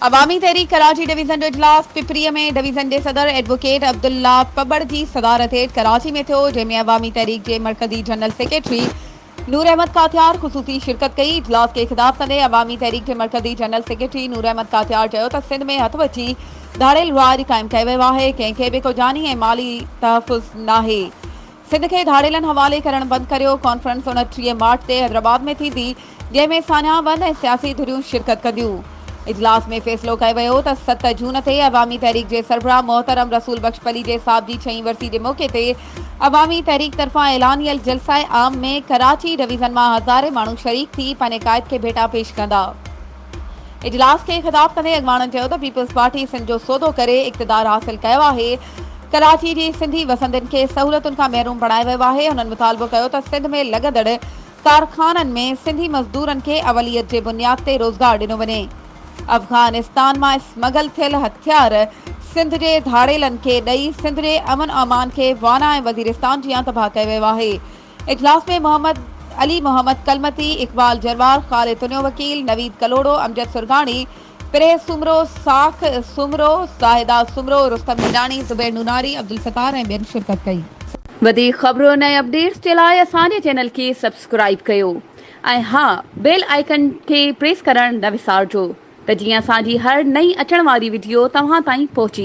عوامي Tehreek Karachi division جو اجلاس Pipri ۾ division جي صدر ايڊووڪيٽ عبدالله پٻڙ جي صدارت هيٺ ڪراچي ۾ ٿيو جنهن ۾ عوامي تحريڪ جي مرڪزي جنرل سيڪريٽري نور احمد ڪاٿيار خصوصي شرڪت ڪئي اجلاس کي خطاب ڪندي عوامي تحريڪ جي مرڪزي جنرل سيڪريٽري نور احمد ڪاٿيار چيو ته سنڌ ۾ هٿ وچي ڌاڙيل راڄ قائم ڪيو ويو آهي ڪنهن کي به ڪو جاني ۽ مالي تحفظ ناهي سنڌ کي ڌاڙيلن حوالي ڪرڻ بند ڪريو، ڪانفرنس اڻٽيهه مارچ تي حيدرآباد ۾ ٿيندي، جنهن ۾ ساڃاهه ون ۽ سياسي ڌريون شرڪت ڪنديون. اجلاس ۾ فيصلو ڪيو ويو ته ست جون تي عوامي تحريڪ جي سربراهه محترم رسول بخش پليجي صاحب جي ڇهين ورسي جي موقعي تي عوامي تحريڪ طرفان اعلانيل جلسائي عام ۾ ڪراچي ڊويزن مان هزارين ماڻهو شريڪ ٿي پنهنجي قائد کي ڀيٽا پيش ڪندا. اجلاس کي خطاب ڪندي اڳواڻن چيو ته پيپلز پارٽي سنڌ جو سودو ڪري اقتدار حاصل ڪيو آهي، ڪراچي جي سنڌي وسندين کي سهولتن کان محروم بڻايو ويو آهي، هنن مطالبو ڪيو ته سنڌ ۾ لڳندڙ ڪارخانن ۾ سنڌي مزدورن کي اوليت جي بنياد تي روزگار ڏنو وڃي، افغانستان مان اسمگل ٿيل هٿيار سنڌ جي ڌاڙيلن کي ڏئي سنڌ جي امن امان کي وانا ۽ وزيرستان جيان تباهه ڪيو ويو آهي. اجلاس ۾ محمد علي محمد ڪلمتي، اقبال جروار، خالد تنيو وڪيل، نويد ڪلهوڙو، امجد سرگاڻي، پرهه سومرو، ساک سومرو، زاهده سومرو، رستم هيڏاڻي، زبير نوناري، عبدالستار ۽ ٻين شرڪت ڪئي. وڌيڪ خبرن ۽ اپڊيٽس جي لاء اسان جي چينل کي سبسڪرائيب ڪيو ۽ ها بيل آئيڪن کي پريس ڪرڻ نه وسارجو ته جيئن اسان جي هر نئين اچڻ واري وڊيو توهان تائين پهچي.